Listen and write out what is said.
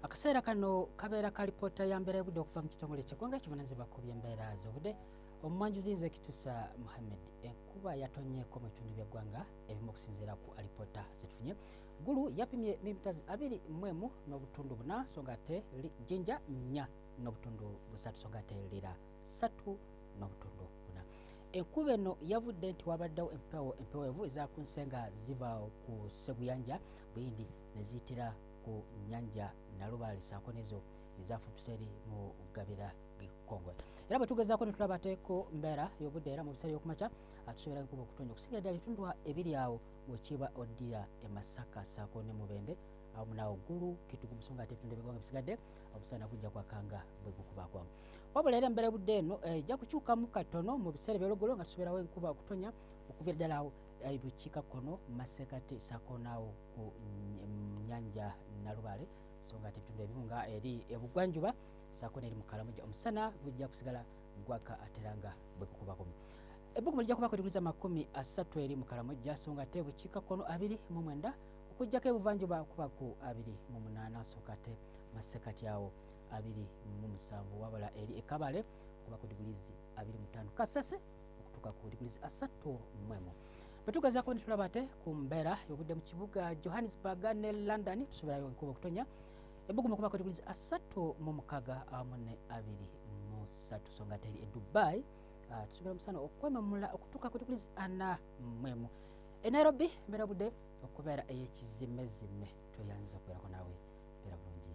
akaseera kano kabeera ka lipoota ya mbeera y'obudde okuva mu kitongole kyegwanga kibunazibwa ku byembeera z'obudde omumwanjuzi nze kitusa muhammed enkuba yatonyeko mu bitundu byeggwanga ebimu okusinziira ku alipoota zetufunye gulu yapimye milimitazi abiri mwemu n'obutundu buna so nga ate jinja nya n'obutundu busatu so nga ate lira satu n'obutundu buna enkuba eno yavudde nti wabaddewo empewo empewevu ezakunsenga ziva ku seguyanja buyindi neziyitira ku nyanja nalubaale saako nezo ezafutuseri mu gabira gikongole era bwe tugezaako netulaba ateeko mbeera y'obudde era mu biseera byokumakya atusobola nkuba okutonya okusingira ddala ebitundu ebiri awo bwekiba oddira emasaka saako ne mubende awo munaawo ggulu kitugu musonga ate ebitundu ebigonga bisigadde omusana gujja kwakanga bwe gukubakwamu wabula era embeera budde eno eh, ejja kukyukamu katono mu biseera ebyolugolo nga tusoborawo enkuba okutonya okuvira ddala awo eh, bukiika kkono masekati saako naawo ku nyanja nalubale so nga ate ebitundu ebimu nga eri ebugwanjuba saako neeri mukalamuja omusana gujja kusigala gwaka atera nga bwekukubakumu ebbugumu lijja kubako diguli zamakumi asatu eri mukalamuja so nga ate bukikakkono abiri mu mwenda okujjako ebuvanjuba kubaku abiri mu munaana so nga ate masekati awo abiri mu musanvu wabula eri ekabale kubaku digulizi abiri mutaano kasese okutuuka ku digulizi asatu mwemu bwetugezaako netulaba ate ku mbeera yobudde mu kibuga johannesburg ne london tusubirayo enkuba okutonya ebbugumu ku makoto kulizi asatu mu mukaga awamu ne abiri musatu so nga teri e dubai ah, tusubira omusana okwememula okutuuka koto kulizi ana mwemu e nairobi mbeera budde okubeera eyekizimezime tweyanza okubeerako naawe mbeera bulungi